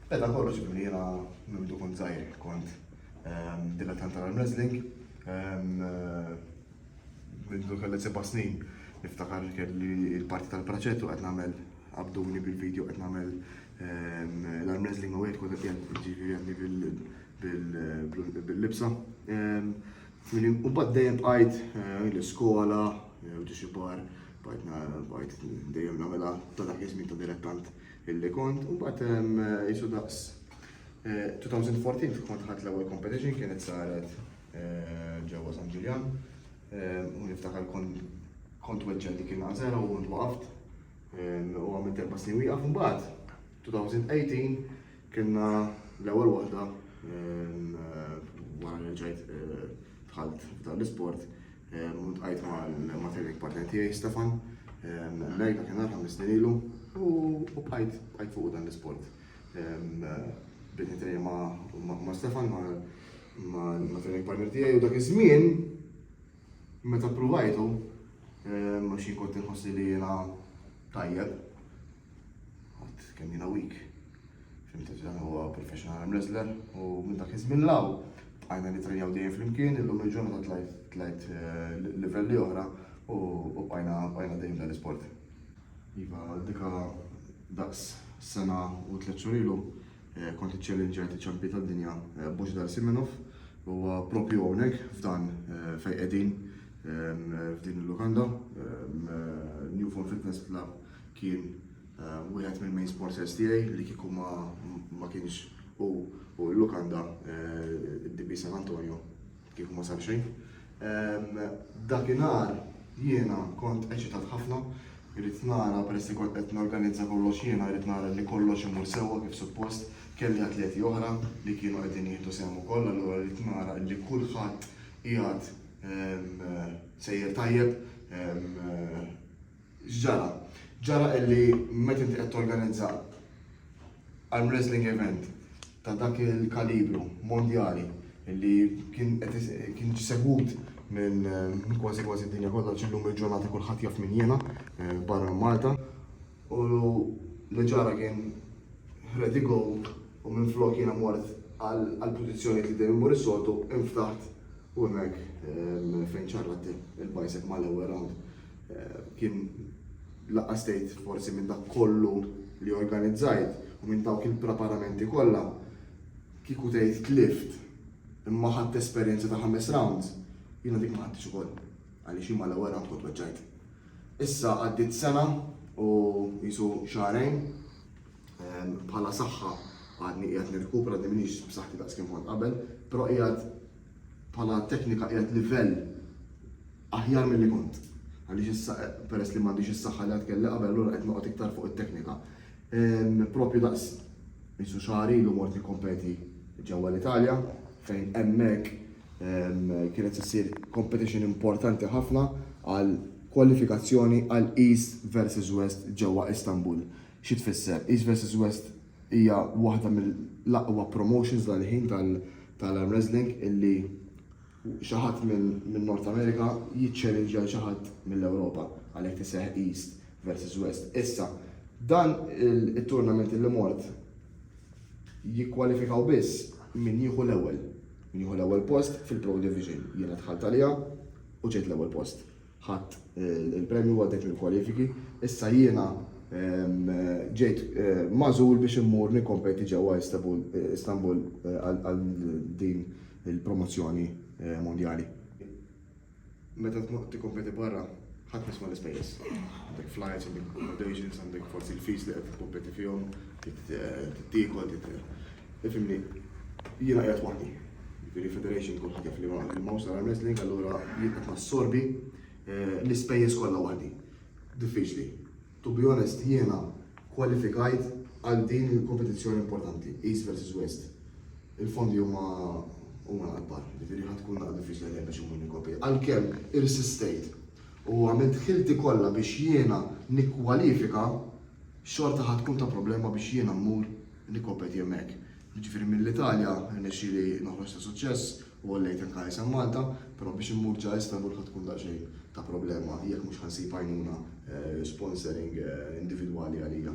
Beda kollox billi jiena minn mdu kont żgħir kont dilettant tal-arm wrestling. Mindu kelli seba' snin niftakar kelli il-parti tal-praċettu qed nagħmel abduni bil-video qed nagħmel l-arm wrestling u għed kont qed jgħid bil-libsa. U bad dejjem bqajt eh, l-iskola, eh, u ġixibar, bqajt dejjem namela ta' dak iż-żmien ta' direttant Illi kont, imbagħad qisu daqs 2014 fi kont ħadd l-ewwel competition kienet saret ġewwa San Ġiljan. U niftakar kont weġġa' dik il-għażela u ntwaqaft u għamilt erba' snin wieqaf imbagħad 2018 kienna l-ewwel waħda wara li ġejt dħalt f'dan l-isport U tqajt ma' training partner tiegħi Stefan, Mary ta' kien ħames snin ilu u bqajt bqajt fuq dan l-isport. Bdiet nitrejja ma' Stefan ma' training partner tiegħi u dak iż-żmien meta pruvajtu ma xi kont inħossi li jiena tajjeb. Għad kemm jiena weak. Fim Tifel huwa professional arm wrestler u minn dak iż-żmien 'l hawn bqajna nitrenjaw dejjem flimkien, illum il-ġurnata tlajt livelli oħra u bqajna dejjem f'dan l-isport. Iva, dika daqs sena u tliet xhur ilu kont iċċellinġjajt iċ-champion tad-dinja Božidar Simenov li huwa proprju hawnhekk f'dan fejn qegħdin f'din il-lukanda, New Form Fitness Club kien Wieħed mill-main sponsors tiegħi li kieku ma kienx u u l-lukanda d-DB San Antonio kieku ma sar xejn. Dakinhar jiena kont eċitat ħafna, irrid nara peress li kont qed norganizza kollox jiena rrid nara li kollox imur sewwa kif suppost, kelli atleti oħra li kienu qegħdin jieħdu sehem ukoll allura rrid nara li kulħadd qiegħed sejjer tajjeb. X'ġara? Ġara illi meta inti qed torganizza arm wrestling event ta' dak il-kalibru mondjali illi kien qed kien jiġi segwut minn kważi kważi d-dinja kollha għax illum il-ġurnata kulħadd jaf min jiena barra minn Malta u li ġara kien ħred ego u minflok jiena mort għall-pożizzjonijiet li dejjem immur is-soltu inftaħt u hemmhekk fejn ċarrat il-bicep mal-ewwel round. kien lanqas tgħid forsi minn dak kollu li organizzajt u minn dawk il-preparamenti kollha kieku tgħid tlift imma ħadd esperjenza ta' ħames rounds, jiena dik ma ħadtix ukoll għaliex jien mal-ewwel round kont weġġajt. Issa għaddiet sena u jisu xahrejn ehm, bħala saħħa għadni qiegħed nirkupra għadni minix b'saħħti daqs kien kont qabel, però qiegħed bħala teknika qiegħed livell aħjar milli kont għaliex issa peress li m'għandix is-saħħa li għad kelli qabel allura qed noqgħod iktar fuq it-teknika. Propju daqs qisu xahar ilu mort nikkompeti ġewwa l-Italja fejn hemmhekk kienet se ssir competition importanti ħafna għal kwalifikazzjoni għal East versus West ġewwa Istanbul. Xi tfisser? East versus West Hija waħda mill-aqwa promotions dal-ħin tal-arm wrestling illi xi ħadd minn North America jiċċellinġja lil xi ħadd mill-Ewropa għalhekk iseħħ East versus West. Issa, dan it-tournament illi mort jikkwalifikaw biss min jieħu l-ewwel. Min jieħu l-ewwel post fil-Pro Division. Jiena dħalt għaliha u ġejt l-ewwel post. Ħadt il-premju għaddejt mill-kwalifiki, issa jiena ġejt magħżul biex immur nikkompeti ġewwa Istanbul għal din il-promozzjoni mondjali. Meta tkun qed tikkompeti barra ħadd m'isma' l-ispejjeż. Għandek flights, għandek accommodations, għandek forsi l-fees li qed tikkompeti fihom, trid tiekol, trid Ifhimni, jiena qiegħed waħdi. Jiġifieri Federation tkun ħatef liema Mawsa Arm Wrestling allura jien qed nassorbi l-ispejjeż kollha waħdi. Diffiċli. To be honest jiena kkwalifikajt għal din il-kompetizzjoni importanti, East versus West. Il-fondi huma huma l-akbar, jiġifieri ħa tkun naqra diffiċli għalija biex immur nikkompeti. Għalkemm irsistejt u għamilt ħilti kollha biex jiena nikkwalifika, xorta ħa tkun ta' problema biex jiena mmur nikkompeti hemmhekk. Jiġifieri mill-Italja rnexxieli noħroġ ta' suċċess u għollejt anke isem Malta, però biex immur ġa Istanbul ħa tkun daqsxejn ta' problema jekk mhux ħa nsib għajnuna sponsoring individwali għalija.